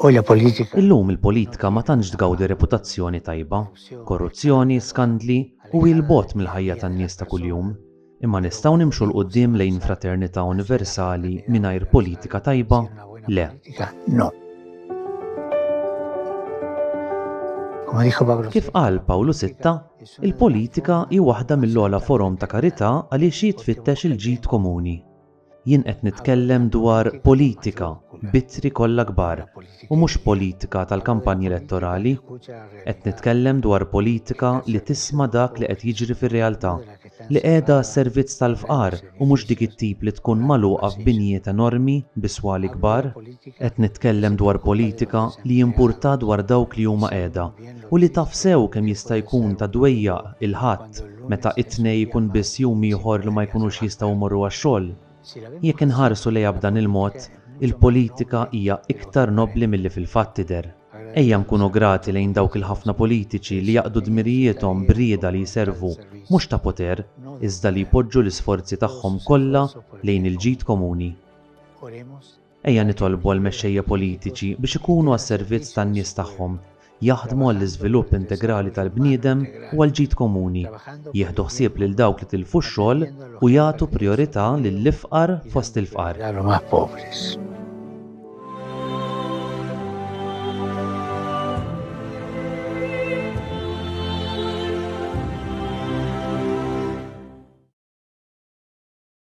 u la politika. Illum il-politika ma tantx tgawdi reputazzjoni tajba. Korruzzjoni, skandli u hi 'l bogħod mill-ħajja tan-nies ta' kuljum. Imma nistgħu nimxu 'l quddiem lejn fraternità universali mingħajr politika tajba? Le. Kif qal Pawlu Sitta, il-politika hi waħda mill-ogħla forom ta' karità għaliex hi tfittex il-ġid komuni. Jien qed nitkellem dwar politika b'ittri kollha kbar u mhux politika tal-kampanji elettorali. Qed nitkellem dwar politika li tisma' dak li qed jiġri fir-realtà, li qiegħda għas-servizz tal-fqar u mhux dik it-tip li tkun magħluqa f'binjiet enormi bi swali kbar. Qed nitkellem dwar politika li jimpurtha dwar dawk li huma qiegħda u li taf sew kemm jista' jkun ta' dwejjaq il-Ħadd meta it-Tnej ikun biss jum ieħor li ma jkunux jistgħu jmorru għax-xogħol. Jekk inħarsu lejha b'dan il-mod, il-politika hija iktar nobbli milli fil-fatt tidher. Ejja nkunu grati lejn dawk il-ħafna politiċi li jaqdu dmirijiethom b'rieda li jservu mhux ta' poter iżda li jpoġġu l-isforzi tagħhom kollha lejn il-ġid komuni. Oremos. Ejja nitolbu għall-mexxejja politiċi biex ikunu għas-servizz tan-nies tagħhom, jaħdmu għall-iżvilupp integrali tal-bniedem u għall-ġid komuni, jieħdu ħsieb lil dawk li tilfu x-xogħol u jagħtu prijorità lill-ifqar fost il-fqar.